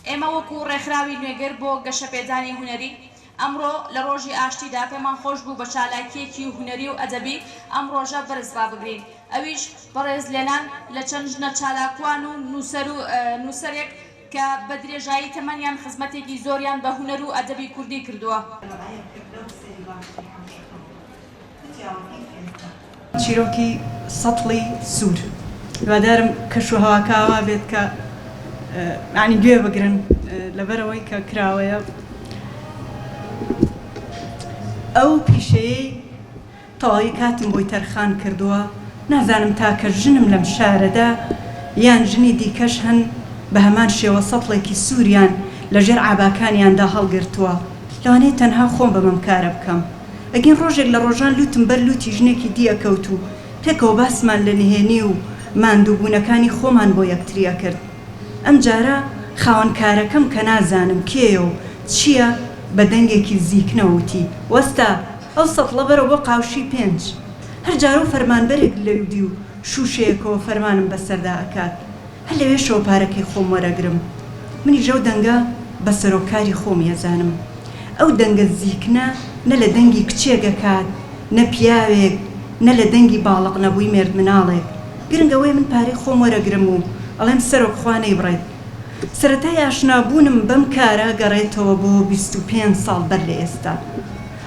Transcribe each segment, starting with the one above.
ئێمە وەکو ڕێکخراوی نوێگر بۆ گەشەپێدانی هونەری، ئەمڕۆ لە ڕۆژی ئاشتیدا پێمان خۆش بوو بە چالاکییەکی هونەری و ئەدەبی ئەم ڕۆژە بەرز ڕابگرین، ئەویش بەڕێز لێنان لە چەند ژنە چالاکوان و نووسەر و نووسەرێک کە بە درێژایی تەمەنیان خزمەتێکی زۆریان بە هونەر و ئەدەبی کوردی کردووە. چیرۆکی سەتڵی سوور. هیوادارم کەش و هەواکە ئاوا بێت کە یانی گوێ بگرن لەبەرەوەی کە کراوەیە ئەو پیشەیەی تەواوی کاتم بۆی تەرخان کردووە نازانم تاکە ژنم لەم شارەدا یان ژنی دیکەش هەن بە هەمان شێوە سەتڵێکی سووریان لەژێر عاباکانیاندا هەڵگرتووە لەوانەیە تەنها خۆم بم ئەم کارە بکەم. ئەگین ڕۆژێک لە ڕۆژان لوتم بەر لوتی ژنێکی دی ئەکەوت و پێکەوە باسمان لە نهێنی و ماندوو بوونەکانی خۆمان بۆ یەکتری ئەکرد ئەم جارە خاوەن کارەکەم کە نازانم کێیە و چییە بە دەنگێکی زیکنەوە وتی وەستە ئەو سەتڵە بەرە بۆ قاوشی پێنج هەر جارەو فەرمانبەرێک لەودیو شوشەیەکەوە فەرمانم بەسەردا ئەکات هەر لەوێشەوە پارەکەی خۆم وەرەگرم منیش ئەو دەنگە بە سەرۆک کاری خۆمی ئەزانم ئەو دەنگە زیکنە نە لە دەنگی کچێک ئەکات نە پیاوێک نە لە دەنگی باڵق نەبووی مێردمناڵێک گرنگ ئەوەیە من پارەی خۆم وەرەگرم و ئەڵێم سەرۆک خوا نەیبڕێت سەرەتای ئاشنا بوونم بەم کارە گەڕێتەوە بۆ بیست و پێنج ساڵ بەر لە ئێستا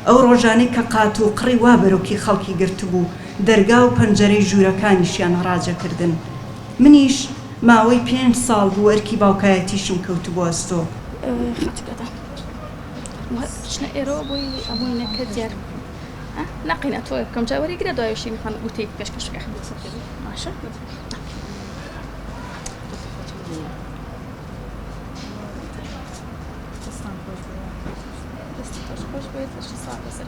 ئەو ڕۆژانەی کە قات و قڕی وا بەرۆکی خەڵکی گرتبوو دەرگا و پەنجەرەی ژوورەکانیشیان هەڕاجەکردن منیش ماوەی پێنج ساڵ بوو ئەرکی باوکایەتیشم کەوتبوو ئەستۆ. خاتووکەتە وە چنە ئێرۆ بۆی ئەمووی نەکە دیار ە نەقینە تۆێ بکەم جا وەری گرە دوای شی نخان وتەی پێشکەش کە باشە خوش بێت سا سەر